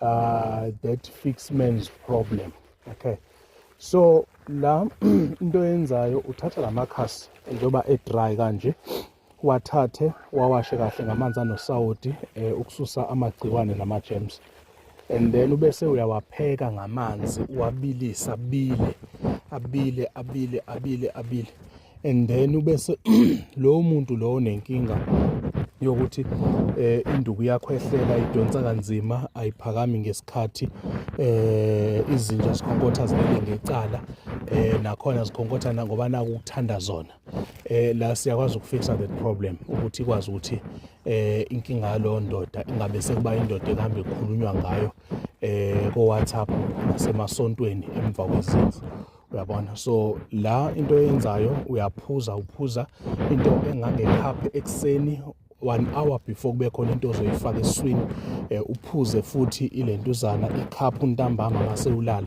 uh, that fix man's problem okay so la into yenzayo uthatha la makhasi njengoba e-dry kanje wathathe wawashe kahle ngamanzi anosawoti um ukususa amagciwane nama-gems and then ubese uyawapheka ngamanzi uwabilisa abile abile abile abile abile and then ubese lowo muntu lowo nenkinga yokuthi eh induku yakho ehlela idonsa kanzima ayiphakami ngesikhathi eh izinja zikhonkotha zibele ngecala eh nakhona zikhonkotha ngoba naku ukuthanda zona eh la siyakwazi ukufixa that problem ukuthi ikwazi ukuthi eh inkinga yalo ndoda ingabe sekuba indoda ehambe ekhulunywa ngayo eh ko WhatsApp nasemasontweni emva kwezinto uyabona so la into eyenzayo uyaphuza uphuza into engangekhaphe ekuseni one hour before kube khona into ozoyifaka eswini eh, uphuze futhi ilentuzana ikhaphu ntambama ngase ulala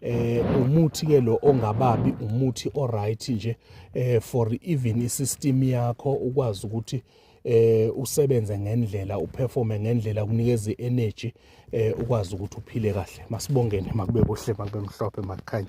eh umuthi ke lo ongababi umuthi oright nje eh for even isystem yakho ukwazi ukuthi eh usebenze ngendlela uperforme ngendlela kunikeza energy eh ukwazi ukuthi uphile kahle masibongene makube kuhle makube mhlophe makukhanya